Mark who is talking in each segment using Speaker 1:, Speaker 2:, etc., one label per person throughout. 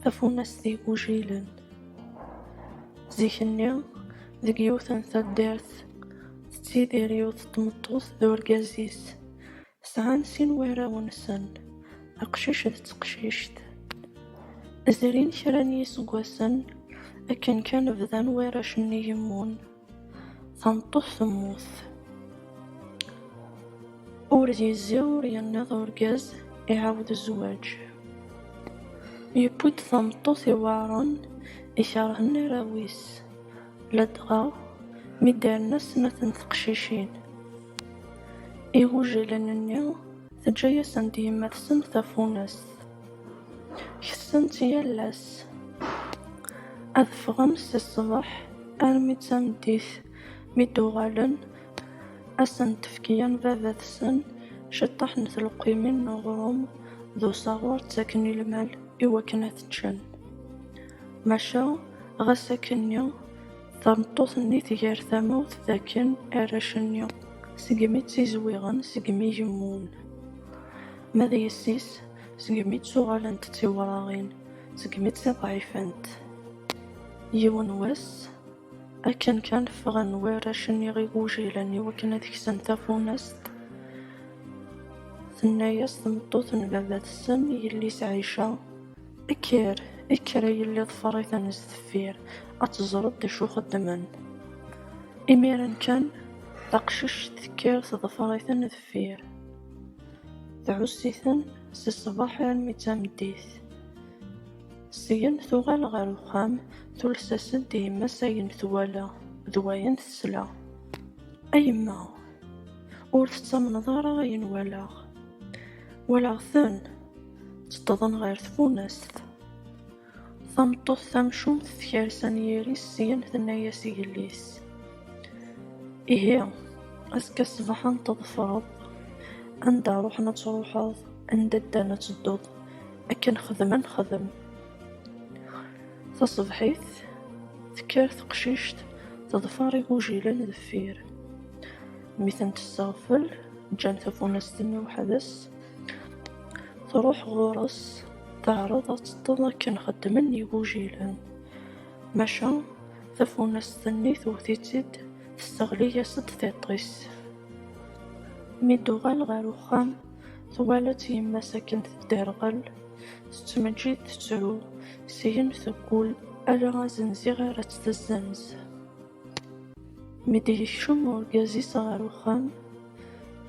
Speaker 1: Tafunast igujilen. Zik-nni, deg yiwet n taddart, tettidir yiwet n tmeṭṭut d urgaz-is. Sɛan sin warraw-nsen, aqcic d teqcict. Zrin kra n yiseggasen akken kan bdan warrac-nni gemmun. Tameṭṭut temmut. Ur d-yezzi ur yenniḍ urgaz iɛawed zzwaǧ. Yewwi-d tameṭṭut iweɛren ikerhen arraw-is, ladɣa mi d-rna snat n teqcicin igujilen-nni, teǧǧa-yasen-d yemma-tsen tafunast. Kessent yal ass. Ad ffɣen si ṣṣbeḥ armi d tameddit. Mi d-uɣalen, ad sen-d-tefk yan baba-tsen ciṭṭaḥ n tleqqimin n uɣrum d usaɣur ttaken i lmal i wakken ad t-ččen. Maca ɣas akkenni, tameṭṭut-nni tger tamawt d akken arrac-nni segmi ttizwiɣen, segmi gemmun. Ma d yessi-s, segmi ttuɣalent d tiwraɣin, segmi tt-ḍeɛifent. Yiwen n wass, akken kan ffɣen warrac-nni igujilen iwakken ad ksen tafunast, tenna-yas tmeṭṭut n baba-tsen i yelli-s Ɛica, Kker, kker a yelli ḍfer-iten sdeffir, ad teẓreḍ d acu xeddmen. Imiren kan, taqcict tekker teḍfer-iten deffir. Tɛuss-iten si ṣṣbeḥ armi d tameddit. Syen tuɣal ɣer uxxam, tules-as-d i yemma-s ayen twala d wayen tesla. A yemma! Ur tettamneḍ ara ayen walaɣ. Walaɣ-ten ttedḍen ɣer tfunast. Tameṭṭut tamcumt tekres anyir-is syen tenna-yas i yelli-s, Ihi, azekka ṣṣbeḥ ad n-tḍefreḍ, anda ruḥen ad truḥeḍ, anda ddan ad tedduḍ, akken xedmen xedem. Taṣebḥit, tekker teqcict teḍfer igujilen deffir. Mi ten-tesseɣfel, ǧǧan tafunast-nni weḥd-s, truḥ ɣur-s, Teɛreḍ ad teṭṭeḍ akken xeddmen igujilen, maca tafunast-nni tewwet-itt-id tesseɣli-as-d tiṭ-is. Mi d-tuɣal ɣer uxxam, twala-tt yemma-s akken tedderɣel, tettmeǧǧid tettru, syin teggul ala azenziɣ ara tt-tessenz. Mi d-yekcem urgaz-is ɣer uxxam,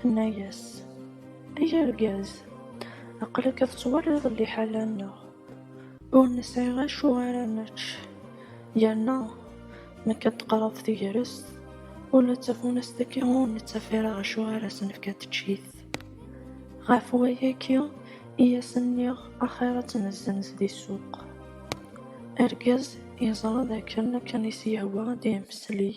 Speaker 1: Tenna-yas, Ay argaz, aql-ak ad twaliḍ liḥala-nneɣ, ur nesɛi acu ara nečč, yerna mi akka d-teqreb tegrest, ula d tafunast-agi ur nettaf ara acu ara s-nefk ad teččit. Ɣef wayagi i as-nniɣ axir ad tt-nessenz di ssuq. Argaz yeẓra d akken akken i s-yehwa ad d-yemmesley.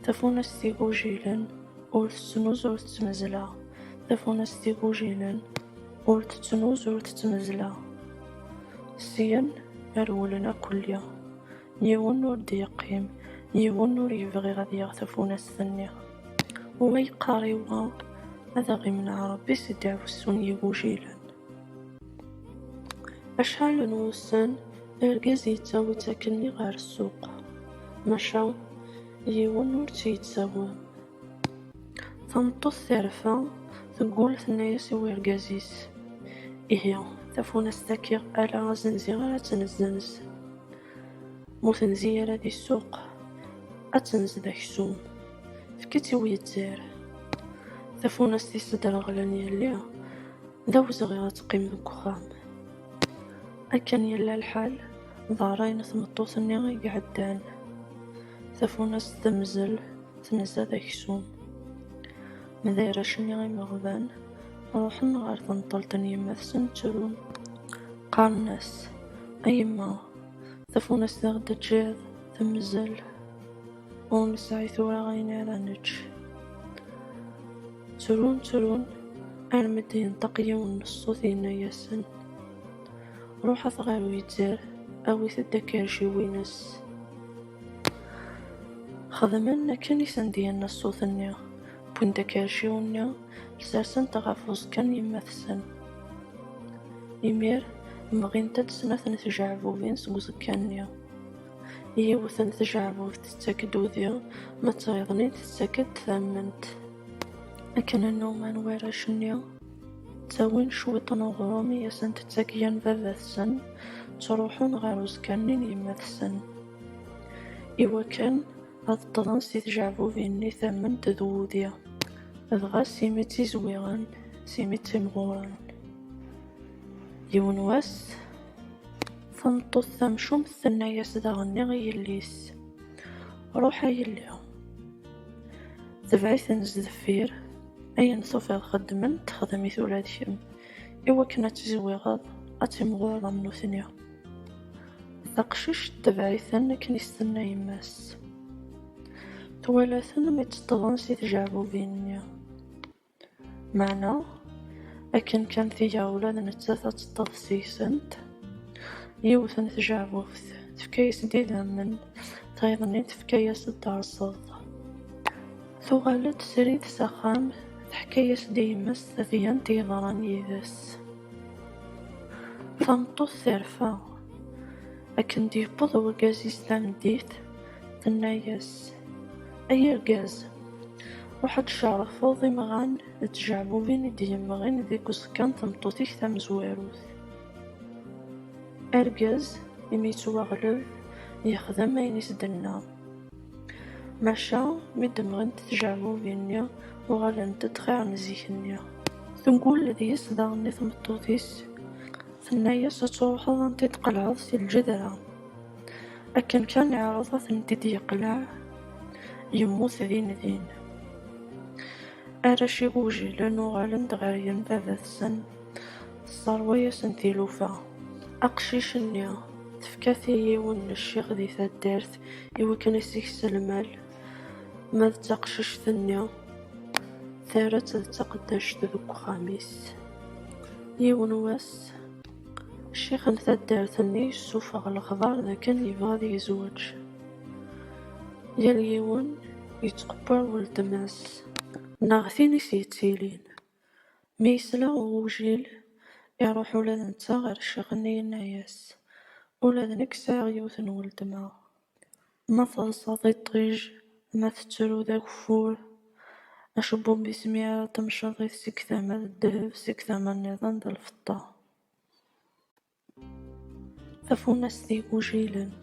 Speaker 1: Tafunast igujilen ur tettnuz ur tettmezla. Tafunast igujilen ur tettnuz ur tettmezla. Syen rewlen akk lli. Yiwen ur d-yeqqim, yiwen ur yebɣi ad yaɣ tafunast-nni. Wa yeqqar i wa ad aɣ-imneɛ Rebbi si ddaɛwessu n yigujilen. Acḥal n wussan Argaz yettawi-tt akkenni ɣer ssuq, maca yiwen ur tt-yettawi. Tameṭṭut terfa, teggul tenna-yas i urgaz-is, Ihi, tafunast-agi ala azenzi ara tt-nezzenz. Ma ur tenzi ara di ssuq, ad tenz d aksum. Efk-itt i uyeddar. Tafunast-is ddreɣlen yelli. d awezɣi ad teqqim deg uxxam. Akken yella lḥal, d ṛṛay n tmeṭṭut-nni i iɛeddan. Tafunast temzel, tenza d aksum. Ma d arrac-nni imeɣban, ruḥen ɣer tenṭelt n yemma-tsen ttrun. Qqaren-as, A yemma, tafunast i ɣ-d-teǧǧiḍ temzel. Ur nesɛi tura ayen ara nečč. Ttrun, ttrun, armi d-yenṭeq yiwen n ṣṣut yenna-yasen, Ruḥet ɣer uyetzer, awit-d akerciw-ines. Xedmen akken i sen-d-yenna ṣṣut-nni, wwin-d akerciw-nni, sersen-t ɣef uẓekka n yemma-tsen. Imir, mɣint-d snat n tjeɛbubin seg uẓekka-nni. Yiwet n tjeɛbubt tettak-d udi, ma d tayeḍnit tettak-d tamment. Akken nnuman warrac-nni, ttawin cwiṭ n uɣrum i asent-tettak yan baba-tsen, ttruḥun ɣer uẓekka-nni n yemma-tsen. Iwakken ad ṭṭḍen si tjeɛbubin-nni tamment d wudi, dɣa s imi ttizwiɣen, s imi ttimɣuren. Yiwen wass, Tameṭṭut tamcumt tenna-yas daɣenni i yelli-s, Ruḥ a yelli, tebɛ-iten sdeffir, ayen tufiḍ xeddmen-t xdem-it ula d kemm, i wakken ad tezwiɣeḍ, ad timɣureḍ am nutni. Taqcict tebɛ-iten akken i s-tenna yemma-s. Twala-ten mi ṭṭeḍen si tjeɛbubin-nni. Meɛna, akken kan tga ula d nettat ad teṭṭef seg-sent yiwet n tjeɛbubt, tefka-yas-d idammen, tayeḍ-nni tefka-yas-d taɛeṣṣaḍt. Tuɣal-d srid s axxam, teḥka-yas-d i yemma-s tadyant yeḍran yid-s. Tameṭṭut terfa. Akken d-yewweḍ urgaz-is tameddit, tenna-yas, Ay argaz, ruḥ ad tcerrfeḍ imɣan d tjeɛbubin i d-yemɣin deg uẓekka n tmeṭṭut-ik tamezwarut. Argaz, imi yettwaɣleb, yexdem ayen i s-d-tenna. Maca, mi d-mɣent tjeɛbubin-nni, uɣalent-d xir n zik-nni. Teggull deg-s daɣen i tmeṭṭut-is, tenna-as, Ad truḥeḍ anda i d-tqelɛeḍ si lǧedra. Akken kan iɛreḍ ad tent-id yeqleɛ, yemmut din din. Arrac igujilen uɣalen-d ɣer yembabat-sen, tesserwa-yasen tilufa. Aqcic-nni, tefka-t i yiwen n ccix di taddart i wakken i s-ikes lmal, ma d taqcict-nni, terra-tt d taqeddact deg uxxam-is. Yiwen wass, Ccix n taddart-nni yessufeɣ lexbar d akken yebɣa ad yezweǧ. Yal yiwen yettqebbar weltma-s neɣ tin i s-yettilin. Mi yesla i ugujil, iruḥ ula d netta ɣer ccix-nni yenna-as, Ula d nekk sɛiɣ yiwet n weltma. Ma teḍsa tiṭij, ma tettru d ageffur, acebbub-is mi ara temceḍ-it seg tama d ddheb, seg tama nniḍen d lfeṭṭa. Tafunast igujilen.